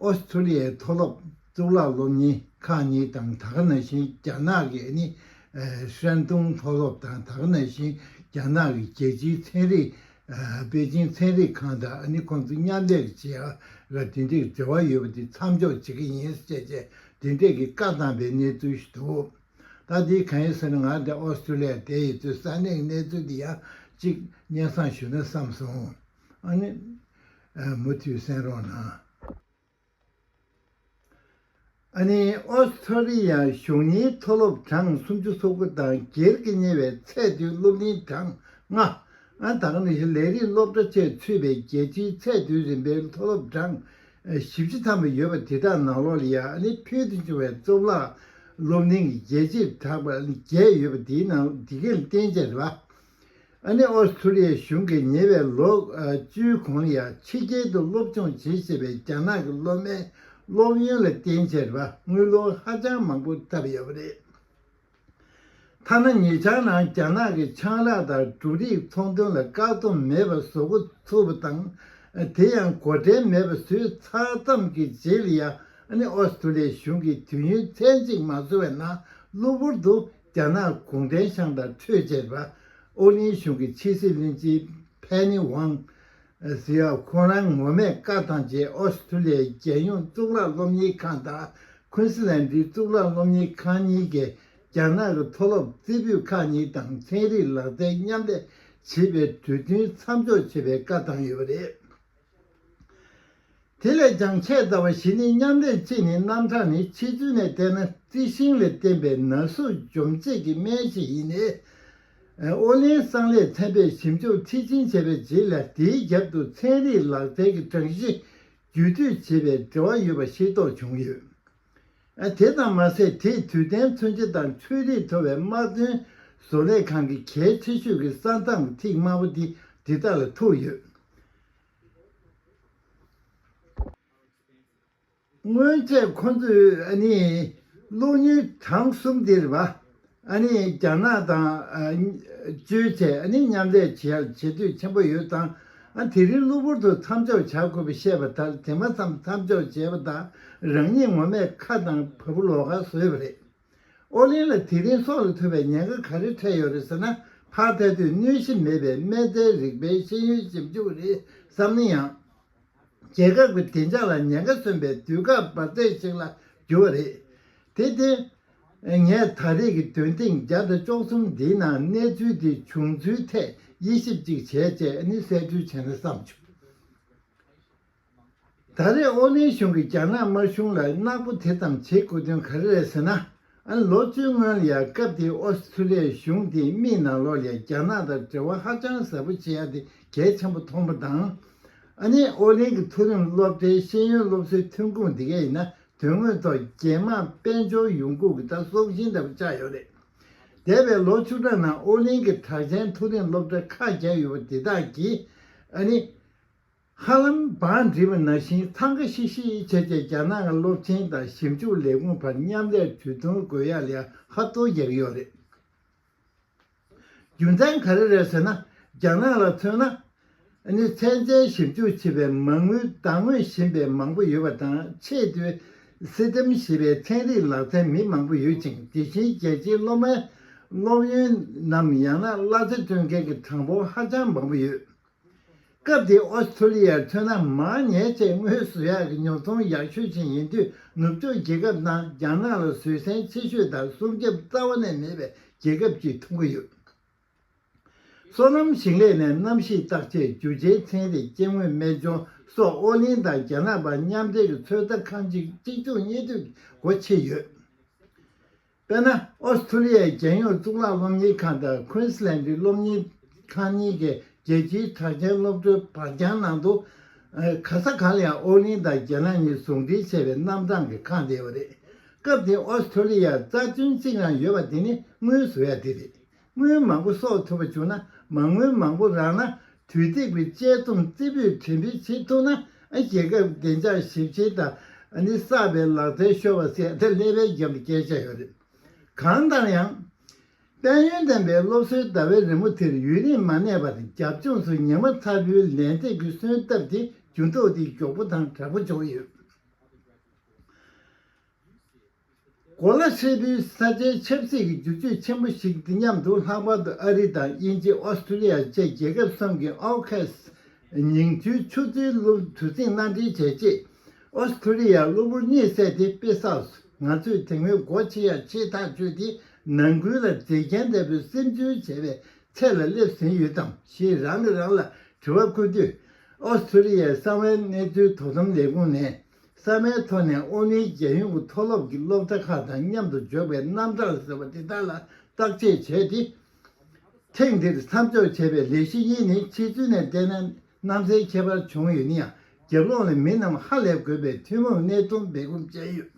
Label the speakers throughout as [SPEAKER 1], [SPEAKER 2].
[SPEAKER 1] ཨོ་སི་ཐུ་ལི་ཡའི་མཐོ་སློབ་གཙུག་ལག་སློབ་གཉེར་ཁང་གཉིས་དང་ད་ག་ན་ཤིན་རྒྱ་ནག་གི་ཨ་ནི་ཧྲན་ཏུང་མཐོ་སློབ་དང་ད་ག་ན་ཤིན་རྒྱ་ནག་གི་རྒྱལ་སྤྱིའི་ཚན་རིག་པེ་ཅིང་ཚན་རིག་ཁང་དང་ཨ་ནི་ཁོང་ཚོ་མཉམ་ལས་ཀྱིས་བྱེད་ཨ་ར་འབྲེལ་འདྲིས་འབྲེལ་བ་ཡོད་པ་དེ་མཚམས་འཇོག་བྱེད་ཀྱི་ཡིན་ཞེས་བཅས་འབྲེལ་འདྲིས་ཀྱི་བཀའ་བཏང་པའི་གནས་ཚུལ་ཞིག་འདུག་ད་ལྟའི་ག་ཡིན་ཟེར་ན་ང་དེ་ཨོ་སི་ཐུ་ལི་ཡར་བསྡད་ཡོད་དུས་ས་གནས་ཀྱི་གནས་ཚུལ་དེ་ཡང་གཅིག་སྙན་སང་ཞུ་ན་བསམ་སོང། ཨ་ནི། མུ་མཐུད་གསན་རོགས་གནང། ཨ་ནི། ཨོས་ཐྲ་ལི་ཡ་གཞུང་གཉིས་མཐོ་སློབ་གྲངས་སུམ་ཅུ་སོ་དགུ་དང་སྒེར་གྱི་གཉེར་བའི་ཚད་མཐོའི་སློབ་གླིང་གྲངས་ལྔ། ཨན་དང་ནི་ཞི་ལས་རིགས་སློབ་གྲྭ་བཅས་ཚུད་པའི་རྒྱལ་སྤྱིའི་ཚད་མཐོའི་རིམ་པའི་མཐོ་སློབ་གྲངས་བཞི་བཅུ་ཐམ་པ་ཡོད་པ་དེ་དག་ནང་ལོ་ལི་ཡ་ཨ་ནི་ཕུལ་དུ་བྱུང་བའི་གཙུག་ལག་སློབ་གླིང་གི་རྒྱལ་གཅེས་གྲགས་པ་བརྒྱད་ཡོད་པ་དེའི་ནང་འདི་གའི་རྟེན་བཅས་རེད་པ། ཨ་ནི་ཨོ་སི་ཁྲུ་ལི་ཡའི་གཞུང་གིས་ཉེ་བའི་ལོ་བཅུའི་གོང་ལ་ཕྱི་རྒྱལ་དུ་སློབ་སྦྱོང་བྱེད་བཞིན་པའི་རྒྱ་ནག་གི་སློབ་མའི་སློབ་ཡོན་ལ་བརྟེན་ཕྱིར་དངུལ་ལོ་ཧ་ཅང་མང་པོ་ཐབས་ཡོད་པ་རེད། ཐ་ན་ཉེ་ཆར་ནང་རྒྱ་ནག་གི་ཆང་རག་དང་འབྲུ་རིགས་ཚོང་དོན་ལ་བཀག་སྡོམ་མེད་པར་བཟོ་འགོ་ཚུགས་པ་དང་དེ་ཡང་གོ་དྲན་མེད་པར་བཟོས་ཚར་ཙམ་གྱི་རྗེས་ལ་ཡང་ཨ་ནི་ཨོ་སི་ཁྲུ་ལི་ཡའི་གཞུང་གིས་དུས་ཡུན་ཚད་གཅིག་མ་བཟོ་བའི་ནང་གློ་བུར་དུ་རྒྱ་ནག་གུང་ཁྲན་ཤང་དང་འཕྲོད་བཅད་པ་ཨོ་གླིང་གཞུང་གི་ཕྱི་སྲིད་བློན་ཆེན་ཕེ་ནི་ཝང། Zhao། ཁོང་རང་ངོ་མས་བཀའ་བཏང་རྗེས་ཨོ་སི་ཐུ་ལི་ཡའི་རྒྱལ་ཡོངས་གཙུག་ལག་སློབ་གཉེར་ཁང་དང་ཁུན་སི་ལན་དུའི་གཙུག་ལག་སློབ་གཉེར་ཁང་གཉིས་ཀྱིས་རྒྱ་ནག་གི་མཐོ་སློབ་རྩེ་ཕུད་ཁག་གཉིས་དང་ཚན་རིག་ལག་རྩལ་མཉམ་ལས་བྱེད་པའི་གྲོས་མཐུན་མཚམས་འཇོག་བྱེད་པའི་བཀའ་བཏང་ཡོད་པ་རེད། དེ་ལས་ཀྱང་ཆེས་རྩ་བ་བཞི་ནི་མཉམ་རེག་གཅིག་ནི་རྣམ་གྲངས་ནི་ཕྱི་ཚུལ་ནས་བལྟས་ན་རྩི་ཤིང་ལས་བསྟན་པའི་ན་ཟུག་འཇོམས་བྱེད་ཀྱི་སྨན་ཞིག་ཡིན། ཨོ་ལིན་སང་ལས་ཚན་པས་ཞིབ་འཇུག་མཐིལ་ཕྱིན་བྱས་པའི་རྗེས་ལ་དེའི་རྒྱབ་ཏུ་ཚན་རིག་ལག་རྩལ་གྱི་གྲངས་གཞི་བརྒྱུད་སྤྲོད་བྱེད་པའི་འབྲེལ་བ་ཡོད་པ་ཤེས་རྟོགས་བྱུང་ཡོད། དེ་ཙམ་མ་ཟད་དེས་དུས་གཏན་མཚོན་ཆ་དང་ཆོས་རིག་མཐོ་བའི་དམག་དོན་བཟོ་ལས་ཁང་གི་གལ་ཆེ་ཤོས་ཀྱི་ས་མཚམས་ཐིག་དམར་པོ་དེ་འདི་དག་ལ་ཐུག་ཡོད། སྔོན་ཆད་ཁོ་ཚོས་ནི་གློག་བརྙན་གྲངས་གསུམ་དེར་བ་རྒྱ་ནག་དང་བཅོས་བྱས་མཉམ་ལས་བྱེད་འདོད་ཆེན་པོ་ཡོད་ཙང་དེ་རིང་གློ་བུར་དུ་མཚམས་འཇོག་བྱ་དགོས་པ་བཤད་པ་ལྟར་དེ་མ་མཚམས་མཚམས་འཇོག་བྱས་པ་དང་རང་ཉིད་ངོ་མས་ཁ་དང་བ་སྤུ་ལོག་ཁ་བཟོས་པ་རེད། ཨོ་གླིང་ལ་དེ་རིང་སྲོག་ལ་ཐུག་པའི་ཉེན་ཁ་ག་རེ་འཕྲད་ཡོད་རེད་ཟེར་ན་ཕག་ཐལ་དུས་གནོད་གཞི་མེད་པའི་སྨན་རྫས་རིག་པའི་ཤེས་ཡོན་ཞིབ་འཇུག་རེད་བསམ་ན་ཡང། རྒྱལ་ཁབ་ཀྱི་བདེ་འཇགས་ལ་ཉེན་ཁ་སོན་པའི་དུས་སྐབས་འབར་རྫས་ཤིག་ལ་གྱུར་བ་རེད། དེ་བརྟེན། ངས་ད་རེས་ཀྱི་འདོན་ཐེངས་བརྒྱ་དང་བཅོ་གསུམ་འདིའི་ནང་གནས་ཚུལ་འདི་བྱུང་ཚུལ་ཐད་དབྱེ་ཞིབ་ཅིག་བྱས་རྗེས་ནི་གསལ་བཀྲོལ་བྱས་ན་བསམ་བྱུང། ད་རེས་ཨོ་གླིང་གཞུང་གིས་རྒྱ་ནག་དམར་གཞུང་ལ་གནག་པོ་དེ་ཙམ་བྱེད་དགོས་དོན་ག་རེ་རེད་ཟེར་ན། ཨང་ལོ་བཅུའི་སྔོན་ལ་སྐབས་དེའི་ཨོ་སི་ཁྲུ་ལི་ཡའི་གཞུང་དེའི་དམིགས་ནང་ལོགས་ལས་རྒྱ་ནག་དང་འབྲེལ་བ་ཧ་ཅང་ཟབ་པོ་བྱེད་ཡ་དེ་གལ་ཆེན་པོ་མཐོང་པ་དང། ཨ་ནི་ཨོ་གླིང་གི་མཐོ་རིམ་སློབ་གྲྭའི་ཤེས་ཡོན་སློབ་གསོའི་ཐོན་ཁུངས་དེ་གའི་ཡིན་ན་དོན་དངོས་ཐོག་རྒྱལ་དམངས་དཔལ་འབྱོར་ཡོང་ཁུངས་ཀྱི་ད་སྲོག་ཤིང་ལྟ་བུ་ཆགས་ཡོད་རེད། འདས་པའི་ལོ་བཅུ་ཕྲག་ནང་ཨོ་གླིང་གི་གྲགས་ཅན་མཐོ་རིམ་སློབ་གྲྭ་ཁག་བརྒྱ་ཡོད་པ་དེ་དག་གིས་ཨ་ནི། ཧ་ལམ་བང་སྒྲིག་པ་ནང་བཞིན་འཚང་ཁ་ཤིག་ཤིག་བྱས་རྗེས་རྒྱ་ནག་གི་སློབ་ཆེན་དང་ཞིབ་འཇུག་ལས་ཁུངས་བར་མཉམ་ལས་གྲོས་མཐུན་དགོས་ཡ་ལས་ཧ་གཏོར་རྒྱག་ཡོད་རེད། རྒྱུ་མཚན་ག་རེ་རེད་ཟེར་ན་རྒྱ་ནག་ལ་མཚོན་ན། ནི་ཚན་རྩལ་ཞིབ་འཇུག་བྱེད་པའི་མ་དངུལ་བདག་ངོས་བཞིན་པའི་མང་པོ་ཡོད་པ་དང་ཆེས་མཐོའི System ཞེས་པའི་ཚན་རིག་ལག་རྩལ་མི་མང་པོ་ཡོད་ཅིང་དེ་བཞིན་རྒྱལ་སྤྱིའི་སློབ་མའི་སློབ་ཡོན་ནམ་ཡང་ན་གླ་རྩི་སྤྲོད་མཁན་གྱི་གྲངས་འབོར་ཧ་ཅང་མང་པོ་ཡོད། སྐབས་དེའི་ཨོ་སི་ཐུ་ལི་ཡར་མཚོན་ན་མར་ཉལ་ཚེ་དངོས་སུ་བཞག་གི་ཉོ་ཚོང་ཡག་ཤོས་ཆེན་ཡིན་དུས་ནུབ་ཕྱོགས་རྒྱལ་ཁབ་ནང་རྒྱ་ནག་ལ་བཟོད་བསྲན་ཆེ་ཤོས་དང་སྲུང་སྐྱོབ་རྩ་བ་ནས་མེད་པའི་རྒྱལ་ཁབ་ཅིག་མཐོང་གི་ཡོད། སོ་ནམ་ཞིང་ལས་ནས་གནམ་གཤིས་བརྟག་དཔྱད་རྒྱུ་ཆའི་ཚན་རིག་སྐྱེ་དངོས་སྨན་ལྗོངས་སོགས་ཨོ་གླིང་དང་རྒྱ་ནག་བར་མཉམ་འབྲེལ་གྱི་ཚོད་ལྟ་ཁང་གཅིག་གཅིག་མཚུངས་གཉིས་མཐུད་ཀྱི་སྒོ་ཕྱེ་ཡོད། དཔེར་ན་ཨོ་སི་ཐུ་ལི་ཡའི་རྒྱལ་ཡོངས་གཙུག་ལག་སློབ་གཉེར་ཁང་དང་ཁུན་སི་ལན་ཏི་སློབ་གཉེར་ཁང་གཉིས་ཀྱི་རྒྱལ་སྤྱིའི་གྲགས་ཅན་སློབ་གྲྭའི་བག་རྐྱང་ནང་དུ། ག་ས་ག་ལ་ཡང་ཨོ་གླིང་དང་རྒྱལ་ནང་གཉིས་ཟུང་འབྲེལ་བྱས་པའི་རྣམ་གྲངས་ཀྱི་ཁང་དེ་ཡོད་རེད། སྐབས་དེའི་ཨོ་སི་ཐུ་ལི་ཡར་རྩ་དོན་གཅིག་རང་ཡོད་པ་དེ་ནི་དངུལ་བཟོ་ཡ་དེ་རེད། དངུལ་མང་པོ་གསོག་ཐུབ་པ་བྱུང་ན་མ་དངུལ་མང་པོ་རག་ན་དུས་ཐིག་པའི་དཔྱད་རྩོམ་རྩེ་ཕུད་འཕྲིན་སྤེལ་བྱེད་ཐུབ་ན་རྒྱལ་ཁབ་བདེ་འཇགས་ཞིབ་བྱེད་དང་གསར་པའི་ལག་རྩལ་ཤོར་བ་སེལ་ཐབས་ཀླད་པའི་རྒྱང་གི་སྐད་ཆ་ཡང་རེད། གང་ལྟར་ཡང། དཔལ་ཡོན་ལྡན་པའི་སློབ་གསོའི་ཟླ་བའི་རི་མོ་དེར་ཡུན་རིང་མ་གནས་པར་རྒྱབ་ལྗོངས་སུ་ཉི་མ་ཚ་བོའི་ལན་ཚྭས་ཀྱི་གསོན་སྟབས་དེ་རྒྱུན་ཐོག་ཏུ་མགྱོགས་པོ་དང་དྲག་པོ་འཇོག་ཡོད། གོ་ལ་ཧྲིལ་པོའི་ས་ཆའི་ཆབ་སྲིད་ཀྱི་འགྱུར་ཕྱོགས་ཆེན་པོ་ཞིག་འདི་མཉམ་དུ་ལྷག་པར་དུ་ཨ་རི་དང་དབྱིན་ཇི་ཨོ་སི་ཀྲུ་ལི་ཡ་བཅས་རྒྱལ་ཁབ་གསུམ་གྱི AUKUS ཉིང་རྡུལ་ཆུ་ཚོད་གློག་དུས་ཚིགས་མནའ་འབྲེལ་བྱས་རྗེས། ཨོ་སི་ཀྲུ་ལི་ཡར་གློ་བུར་གཉིད་བསད་དེ་དཔེ་བསགས་སུ་ང་ཚོས་དེ་སྔོན་སྒོ་ཕྱེ་ཡ་ཕྱེ་ཐག་གཅོད་དེ་ནང་ཁུལ་ལ་མཛེས་རྒྱན་ལྟ་བུའི་སིམ་འཛུལ་བྱས་པའི་ཚད་ལ་སླེབས་ཟིན་ཡོད་དམ་ཞེས་རང་གིས་རང་ལ་དྲི་བ་བཀོད་དུས། ཨོ་སི་ཀྲུ་ལི་ཡའི་གསང་བའི་གནས་ཚུལ་དོ་དམ་ལས་ཁུངས་ནས། གསར་མའི་ཐོག་ནས་ཨོ་ནི་རྒྱལ་ཡོངས་ཀྱི་མཐོ་སློབ་ཀྱི་སློབ་གྲྭ་ཁག་དང་མཉམ་དུ་འཇོག་པའི་རྣམ་གྲངས་ཟེར་བ་དེ་དག་ལ་བརྟག་དཔྱད་བྱས་ཏེ། ཐེངས་འདིར་མཚམས་འཇོག་བྱས་པའི་ལས་གཞི་གཉིས་ནི་ཕྱི་ཚུལ་ནས་བལྟས་ན་གནམ་སའི་ཁྱད་པར་བྱུང་ཡོད་ན་ཡང་རྒྱབ་ལོགས་ནས་མི་རྣམས་ཧ་ལས་དགོས་པའི་ཐུན་མོང་གནད་དོན་སྦས་སྐུང་བྱས་ཡོད།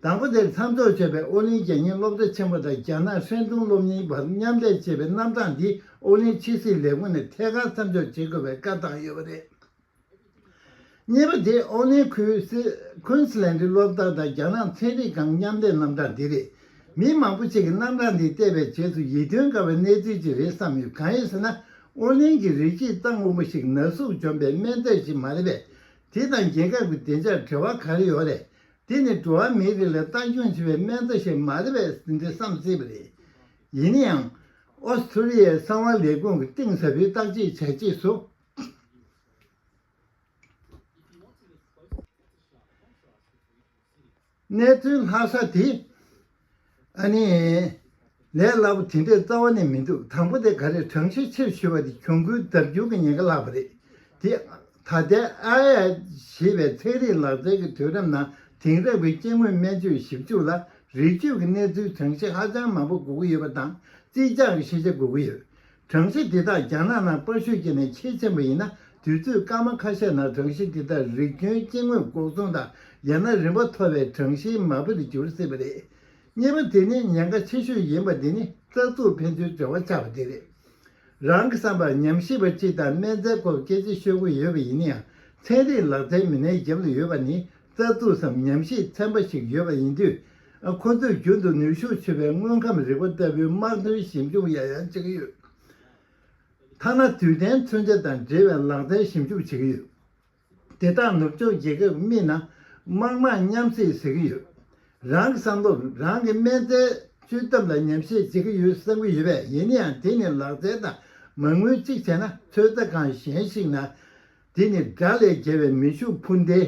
[SPEAKER 1] དང་པོ་དེར་མཚམས་འཇོག་བྱས་པའི་ཨོ་ནི་རྒྱལ་གཉེར་སློབ་གྲྭ་ཆེན་མོ་དང་རྒྱ་ནག་ཧྲན་ཏུང་སློབ་གཉེར་བར་མཉམ་འདྲེས་བྱས་པའི་རྣམ་གྲངས་འདི་ཨོ་ནི་ཕྱི་སྲིད་ལས་ཁུངས་ནས་ཐད་ཀར་མཚམས་འཇོག་བྱེད་དགོས་པའི་བཀའ་བཏང་ཡོད་པ་རེད། གཉིས་པ་དེ་ཨོ་གླིང་ཁུལ Queensland སློབ་གྲྭ་དང་རྒྱ་ནག་ཚན་རིག་ཁང་མཉམ་ལས་རྣམ་གྲངས་འདི་རེད། མི་མང་པོ་ཞིག་གིས་རྣམ་གྲངས་འདི་བལྟས་པའི་རྗེས་སུ་ཡིད་རྟོན་དཀའ་བའི་གནས་ཚུལ་ཅིག་རེད་བསམ་ཡོད་གང་ཡིན་ཟེར་ན་ཨོ་གླིང་གི་རིགས་གཅིག་གཙང་དབུལ་པོ་ཞིག་ན་ཟུག་འཇོམས་པའི་སྨན་རྫས་ཞིག་མ་རེད་པས་དེ་དང་རྒྱལ་ཁབ་ཀྱི་བདེ་འཇགས་འབྲེལ་བ་ག་རེ་ཡོད་རེད། དེ་ནི་འགྲོ་བ་མིའི་རིགས་ལ་ལྟ་སྐྱོང་བྱེད་པའི་སྨན་རྫས་ཤིག་མ་རེད་པས་ཟིན་བྲིས་སམ་སྲིད་པ་རེད། ཡིན་ཡང། ཨོ་སི་ཁྲུ་ལི་ཡའི་གསང་བ་ལས་ཁུངས་ཀྱི་གཏིང་ཟབ་པོའི་བརྟག་དཔྱད་བྱས་རྗེས་སུ། གནས་ཚུལ་ལྷག་ས་དེ་ཨ་ནི། ལས་སླ་པོ་དེ་འདྲའི་རྩ་བ་ནས་མི་འདུག་དང་པོ་དེ་ག་རེ་བགྲང་བྱའི་ཕྱིར་ཞུས་པ་དེ་གྱོང་གུན་བརྡར་འགྱུར་གྱི་ཉེན་ཁ་ལྷག་པ་རེད་དེ། ད་ལྟའི AIH ཞེས་པའི་ཚན་རིག་ལག་རྩལ་གྱི་དུས་རབས་ནང་དེང་རབས་ཀྱི་སྐྱེ་དངོས་སྨན་བཅོས་ཞིབ་འཇུག་ལ་རིགས་གཅོད་ཀྱི་གནས་ཚུལ་གྲངས་གཞི་ཧ་ཅང་མང་པོ་དགོས་ཀྱི་ཡོད་པ་དང་རྩིས་རྒྱག་གི་ཤེས་བྱ་དགོས་ཀྱི་ཡོད། གྲངས་གཞི་འདི་དག་རྒྱ་ནག་ནང་དཔར་བཤུས་བྱས་ནས་ཕྱིར་ཕྱིན་པ་ཡིན་ན་དུས་ཚོད་སྐར་མ་ཁ་ཤས་ནང་གྲངས་གཞི་འདི་དག་རིགས་རྒྱུན་སྐྱེ་དངོས་འགོག་སྲུང་དང་ཡང་ན་རིམ་པ་མཐོ་བའི་གྲངས་གཞིའི་མ་དཔེར་འགྱུར་སྲིད་པ་རེད། གཉིས་པ་དེ་ནི་ཉེན་ཁ་ཆེ་ཤོས་ཡིན་པ་འདི་ནི་རྩ་འཛུགས་ཕན་ཚུན་འབྲེལ་བ་ཆགས་པ་དེ་རེད། རང་གི་བསམ་པར་ཉམས་ཞིབ་པ་གཅིག་དང་སྨན་རྫས་སྐོར་སྐད་ཆ་ཤོད་དགོས་ཡོད་པ་ཡིན་ན་ཡང་ཚན་རིག་ལག་རྩལ་མི་སྣའི་རྒྱབ་ལ་ཡོད་པ་ནི་རྩ་འཛུགས་སམ་ཉམས་ཞིབ་ཚན་པ་ཞིག་ཡོད་པ་ཡིན་དུས་ཁོ་ཚོས་རྒྱུན་དུ་ནུས་ཤུགས་ཆེ་བའི་དངོས་ཁམས་རིག་པ་ལྟ་བུའི་དམག་དོན་ཞིབ་འཇུག་ཡང་ཡང་བྱེད་ཀྱི་ཡོད། ཐ་ན་དུས་གཏན་མཚོན་ཆ་དང་འབྲེལ་བའི་ལག་རྩལ་ཞིབ་འཇུག་བྱེད་ཀྱི་ཡོད། དེ་དག་ནུབ་ཕྱོགས་རྒྱལ་ཁབ་རྨིས་ན་དམག་དམངས་མཉམ་བསྲེས་ཟེར་གྱི་ཡོད། རང་གི་བསམ་བློར་རང་གི་སྨན་རྫས་བཅོས་སྟབས་ལ་ཉམས་བཞེས་བྱེད་ཀྱི་ཡོད་བསམ་གྱི་ཡོད་པས་ཡིན་ཡང་དེ་ནི་ལག་རྩལ་དང་མ་དངུལ་གཅིག་བྱས་ན་ཚོད་ལྟ་ཁང་གཞན་ཞིག་ན་དེ་ནི་དགྲ་ལས་རྒྱལ་བའི་མི་ཤུགས་འཕུར་མདེལ་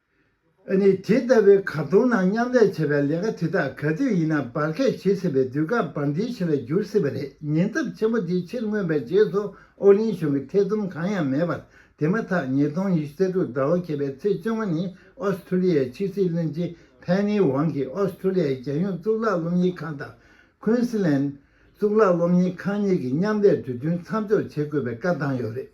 [SPEAKER 1] ཨ་ནི་དེ་ལྟ་བུའི་གར་སྟོང་ནང་མཉམ་ལས་བྱེད་པའི་ལས་ཀ་དེ་དག་ག་དུས་ཡིན་ན་འབར་གས་བྱེད་སྲིད་པའི་དུས་སྐབས་འབར་འདིའི་ཆེད་ལ་འགྱུར་སྲིད་པ་རེད་ཉེན་ཚབས་ཆེན་པོ་དེ་ཕྱིར་མངོན་པའི་རྗེས་སུ་ཨོ་གླིང་གཞུང་གི་ཐེ་ཚོམ་གང་ཡང་མེད་པར་དེ་མ་ཐག་ཉིས་སྟོང་ཉི་ཤུ་རྩ་དྲུག་ཟླ་བ་གས་པའི་ཚེས་བཅོ་ལྔ་ནི་ཨོས་ཐུ་ལི་ཡའི་ཕྱི་སྲིད་བློན་ཆེན་ཕེན་ནི་ཝང་གིས་ཨོས་ཐུ་ལི་ཡའི་རྒྱལ་ཡོངས་གཙུག་ལག་སློབ་གཉེར་ཁང་དང་ཁུན་སི་ལན་གཙུག་ལག་སློབ་གཉེར་ཁང་གཉིས་ཀྱི་མཉམ་ལས་གྲོས་མཐུན་མཚམས་འཇོག་བྱེད་དགོས་པའི་བཀའ་བཏང་ཡོད་རེད་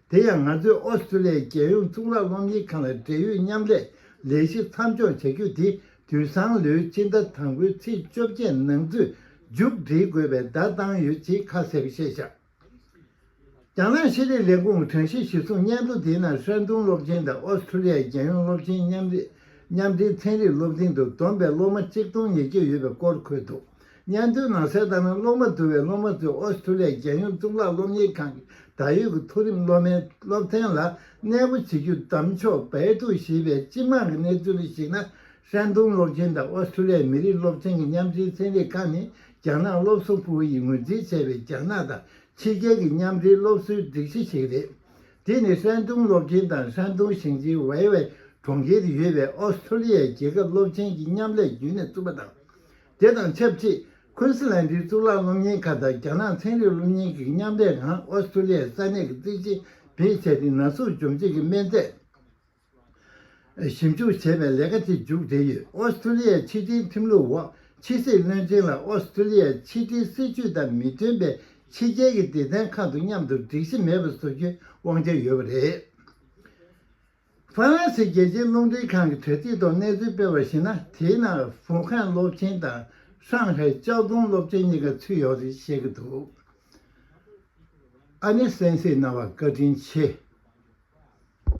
[SPEAKER 1] དེ་ཡང་ང་ཚོས་ཨོ་སི་ཀྲུ་ལི་ཡའི་རྒྱལ་ཡོངས་གཙུག་ལག་སློབ་གཉེར་ཁང་ལ་འབྲེལ་ཡོད་མཉམ་ལས་ལས་གཞི་མཚམས་འཇོག་བྱ་རྒྱུ་དེ་དུས་བཟང་ལོའི་སྤྱི་ཟླ་དང་པོའི་ཚེས་བཅོ་བརྒྱད་ནང་ཚུད་མཇུག་སྒྲིལ་དགོས་པའི་བརྡ་བཏང་ཡོད་ཅེས་ཁ་གསལ་བཤད་བཞག་རྒྱ་ནག་ཤེས་རིག་ལས་ཁུངས་གྲངས་གཞི་གཞིར་བཟུང་སྙན་ཐོ་དེའི་ནང་ཧྲན་ཏུང་སློབ་ཆེན་དང་ཨོ་སི་ཀྲུ་ལི་ཡའི་རྒྱལ་ཡོངས་སློབ་ཆེན་མཉམ་འབྲེལ་ཚན་རིག་སློབ་འཛིན་དུ་བསྡོམས་པའི་སློབ་མ་གཅིག་སྟོང་ཉེར་བརྒྱད་ཡོད་པའི་སྐོར་འཁོད་འདུག་སྙན་ཐོའི་ནང་གསལ་ལྟར་ན་སློབ་མ་དུ་བས་སློབ་མ་ཚོས་ཨོ་སི་ཁྲུ་ལི་ཡའི་རྒྱལ་ཡོངས་གཙུག་ལག་སློབ་གཉེར་ཁང་གི་ད་ཡོད་ཀྱི་མཐོ་རིམ་སློབ་མའི་སློབ་ཚན་ལ་གནས་སྤོ་བྱེད་རྒྱུ་བདམས་ཆོག་བལ་དུ་གཞིས་པའི་སྤྱི་དམངས་ཀྱི་གནས་ཚུལ་ལ་གཞིགས་ན་ཧྲན་ཏུང་སློབ་ཆེན་དང་ཨོ་སི་ཁྲུ་ལི་ཡའི་མི་རིགས་སློབ་ཆེན་གྱི་མཉམ་འབྲེལ་ཚན་རིག་ཁང་ནི་རྒྱ་ནག་སློབ་གསོ་པུའུ་ཡིས་ངོས་འཛིན་བྱས་པའི་རྒྱ་ནག་དང་ཕྱི་རྒྱལ་གྱི་མཉམ་འབྲེལ་སློབ་གསོའི་སྒྲིག་གཞི་ཞིག་རེད། དེ་ནི་ཧྲན་ཏུང་སློབ་ཆེན་དང་ཧྲན་ཏུང་ཞིང་ཆེན་ཝེ་ཝེ་གྲོང་ཁྱེར་དུ་ཡོད་པའི་ཨོ་སི་ཁྲུ་ལི་ཡའི་རྒྱལ་ཁབ་སློབ་ཆེན་གྱི་མཉམ་ལས་བརྒྱུད་ནས་བཙུགས་པ་དང། དེ་དང་ཆབས་ཅིག་ཁུན་སི་ལན་གྱི་གཙུག་ལག་སློབ་གཉེར་ཁང་དང་རྒྱ་ནག་ཚན་རིག་སློབ་གཉེར་གྱི་མཉམ་འབྲེལ་ཁང་ཨོ་སི་ཀྲུ་ལི་ཡའི་ས་གནས་ཀྱི་རྩིས་ཆེན་བེད་སྤྱད་དེ་ན་ཟུག་འཇོམས་བྱེད་ཀྱི་སྨན་རྫས་ཞིབ་འཇུག་བྱེད་པའི་ལས་ཀ་དེ་མཇུག་བསྒྲིལ་ཡོད། ཨོ་སི་ཀྲུ་ལི་ཡའི་ཕྱི་དྲིལ་ཁྲིམས་ལུགས་འོག་ཕྱི་སྲིད་བློན་ཆེན་ལ་ཨོ་སི་ཀྲུ་ལི་ཡའི་ཕྱི་དྲིལ་སྲིད་ཇུས་དང་མི་མཐུན་པའི་ཕྱི་རྒྱལ་གྱི་སྡེ་ཚན་ཁག་དང་མཉམ་དུ་སྒྲིག་གཞི་མེད་པར་བཟོ་རྒྱུའི་དབང་ཆ་ཡོད་པ་རེད། ཧྥ་རན་སིའི་རྒྱལ་སྤྱིའི་རླུང་འཕྲིན་ཁང་གི་དྲ་ཚིགས་ཐོག་གནས་ཚུལ་སྤེལ་བར་གཞིགས་ན་དེའི་ནང་ཧྥུའུ་ཁན་སློབ་ཆེན་དང་ཧྲང་ཧའེ་ཅའོ་ཙུང་སློབ་ཆེན་གཉིས་ཀ་ཚུད་ཡོད་རེད་བཤད་ཀྱི་འདུག་ཨ་ནེ་སན་སི་རྣ་བར་བཀའ་དྲིན་ཆེ།